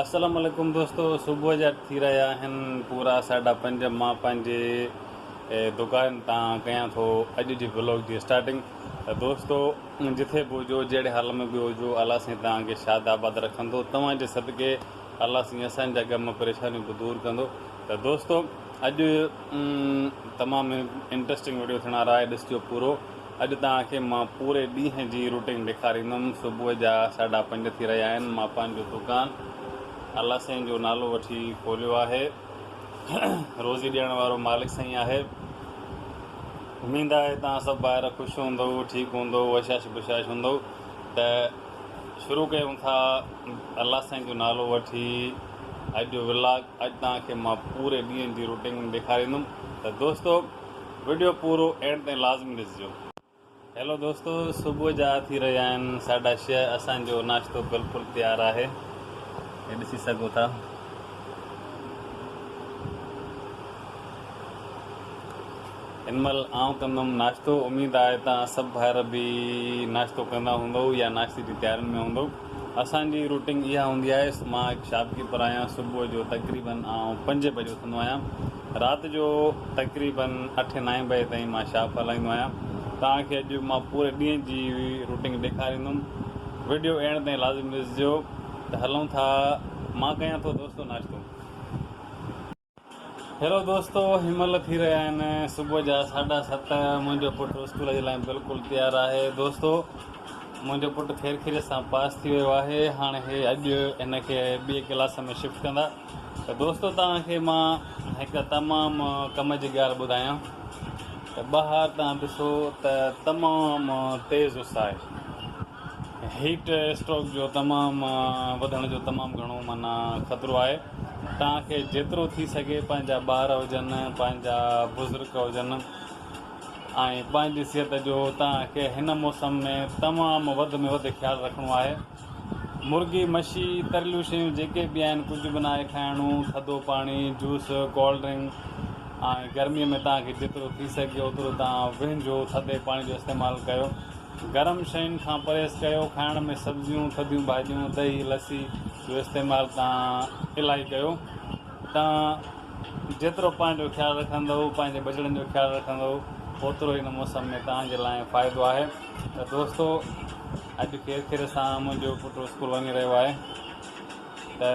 السلام عليڪم دوستو صبح جا ٿي رهيا آهن پورا ساڍا پنج مان پنهنجي دڪان تان ڪيان ٿو اڄ جي بلاگ جي اسٽارٽنگ ته دوستو جٿي به هجو جهڙي حال ۾ به هجو الله سين توهان کي شاد آباد رکندو توهان جي صدقي الله سين اسان جا غم پريشانيون به دور ڪندو ته دوستو اڄ تمام انٽرسٽنگ ويڊيو ٿيڻ وارا آهي ڏسجو پورو اڄ توهان کي مان پوري ڏينهن جي روٽين ڏيکاريندم صبح جا ساڍا پنج ٿي رهيا آهن مان پنهنجو دڪان الله سائين جو نالو وٺي کوليو آهي روزي ڏيڻ وارو مالڪ سائين آهي اميد آهي توهان سڀ ٻاهر خوش هوندو ٺيڪ هوندو وشاش بشاش هوندو ته شروع ڪيون ٿا الله سائين جو نالو وٺي اڄ جو ولاگ اڄ توهان کي مان پوري ڏينهن جي روٽين ڏيکاريندم ته دوستو وڊيو پورو اينڊ تائين لازمي ڏسجو. هيلو دوستو صبح جا ٿي رهيا آهن ساڍا ڇهه اسان جو ناشتو بلڪل تيار آهي هي ڏسي سگهو ٿا هن مهل آئون ڪندم ناشتو اميد آهي ته سڀ ڀائر به ناشتو ڪندا هوندو يا ناشتي جي تيارين ۾ هوندو اسان جي روٽين اها هوندي آهي مان هڪ شاپ ڪيپر آهيان صبح جو تقريبن آئون پنج بجي اٿندو آهيان رات جو تقريبن اٺين نائين بجي تائين مان شاپ هلائيندو آهيان. توهان کي اڄ مان پوري ڏينهن جي روٽنگ ڏيکاريندم. وڊيو اينڊ تائين لازمي ڏسجو. ته هلون ٿا مان ڪيان ٿو دوستو ناشتو. هيلو دوستو هن مهل ٿي رهيا آهن صبح جا ساڍا ست منهنجو پٽ اسڪول جي لاء بلڪل تيار آهي دوستو منهنجو پٽ خير خيريت سان پاس ٿي ويو آهي هاڻ هي اڄ هن کي ٻئي ڪلاس ۾ شفٽ ڪندا. ته دوستو توهان کي مان هڪ تمام ڪم جي ڳالهه ٻڌايان ته ٻاهر توهان ڏسو ته تمام تيز اس آهي هيٽ اسٽروڪ جو تمام وڌڻ جو تمام گهڻو معنيٰ خطرو آهي توهان کي جيترو ٿي سگهي پنهنجا ٻار هجن پنهنجا بزرگ هجن ۽ پنهنجي صحت جو توهان کي هن موسم ۾ تمام وڌ ۾ وڌ خيال رکڻو آهي مرغي، مڇي، تريلون شيون جيڪي به آهن ڪجهه به ناهي کائڻو، ٿڌو پاڻي، جوس، ڪولڊ ڊرنڪ ۽ گرمي ۾ توهان کي جيترو ٿي سگهي اوترو توهان وهنجو ٿڌي پاڻي جو استعمال ڪيو، گرم شين کان پرهيز ڪيو، کائڻ ۾ سبزيون، ٿڌيون ڀاڄيون، دهي، لسي جو استعمال توهان الائي ڪيو، توهان جيترو پنهنجو خيال رکندؤ، پنهنجي ٻچڙن جو خيال رکندؤ اوترو هن موسم ۾ توهان جي لاء فائدو آهي. ته دوستو اڄ کير کير سان منهنجو پٽ اسڪول وڃي رهيو آهي ته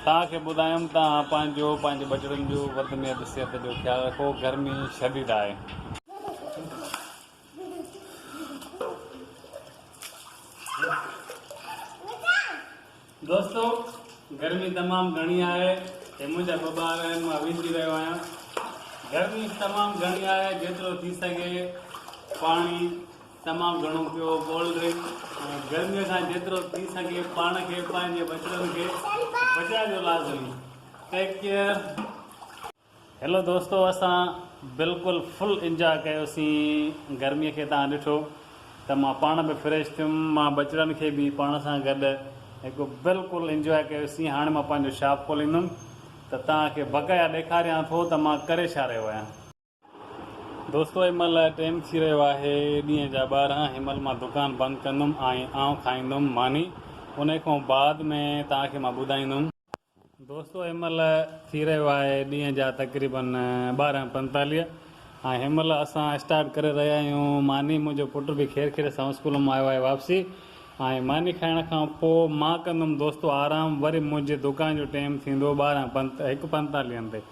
توهان کي ٻڌايم توهان پنهنجو پنهنجي ٻچڙن جو وڌ ۾ وڌ صحت جو خيال رکو گرمي شديد آهي. دوستو گرمي تمام گهڻي آهي هي منهنجا ٻه ٻار آهن مان ويجهي رهيو آهيان گرمي تمام گهڻي آهي جيترو ٿي سگهي پاڻي تمام گهڻو پيو ڪولڊ ڊرنڪ ۽ گرمي کان جيترو ٿي سگهي پاڻ کي پنهنجي ٻچڙن کي بچائجو لازمي ٽيڪ ڪيئر هيلو دوستو اسان بلڪل فل انجاء ڪيوسين گرمي کي تان ڏٺو ته مان پاڻ به فريش ٿيم مان ٻچڙن کي به پاڻ سان گڏ هڪ بلڪل انجاء ڪيوسين هاڻي مان پنهنجو شاپ کوليندم ته تان کي بقايا ڏيکاريان ٿو ته مان ڪري ڇا رهيو آهيان. دوستو هن مهل ٽيم ٿي رهيو آهي ڏينهن جا ٻارهن هن مهل مان دڪان بند ڪندم ۽ آئون کائيندم ماني انهي کان بعد ۾ تان کي مان ٻڌائيندم. دوستو هن مهل ٿي رهيو آهي ڏينهن جا تقريبن ٻارهن پنتاليهه ۽ هن مهل اسان اسٽارٽ ڪري رهيا آهيون ماني منهنجو پٽ به خير خيريت سان اسڪول مان آيو آهي واپسي ۽ ماني کائڻ کان پوء مان ڪندم دوستو آرام وري منهنجي دڪان جو ٽيم ٿيندو ٻارهن پنت هڪ پنتاليهن تي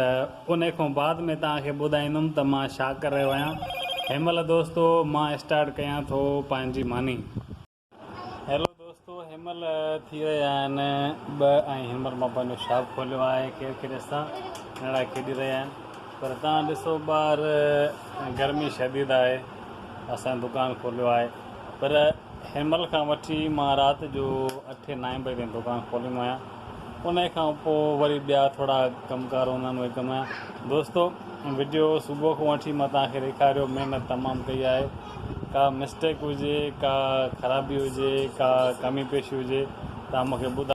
ته ان کان بعد ۾ توهان کي ٻڌائيندم ته مان ڇا ڪري رهيو آهيان هن مهل دوستو مان اسٽارٽ ڪيان ٿو پنهنجي ماني. هيلو دوستو هن مهل ٿي رهيا آهن ٻه ۽ هن مهل مان پنهنجو شاپ کوليو آهي ڪير ڪير ڏسان ننڊا کيڏي رهيا آهن پر تان ڏسو ٻار گرمي شديد آهي اسان دڪان کوليو آهي پر هن مهل کان وٺي مان رات جو اٺين نائين بجي تائين دڪان کوليندو آهيان انهي کان پوء وري ٻيا ٿورا ڪم ڪار هوندا آهن اهي ڪم آهيا دوستو وڊيو صبح کان وٺي مان توهان کي ڏيکاريو محنت تمام ڪئي آهي ڪا مسٽيڪ هجي ڪا خرابي هجي ڪا ڪمي پيشي هجي توهان مون کي ٻڌايو.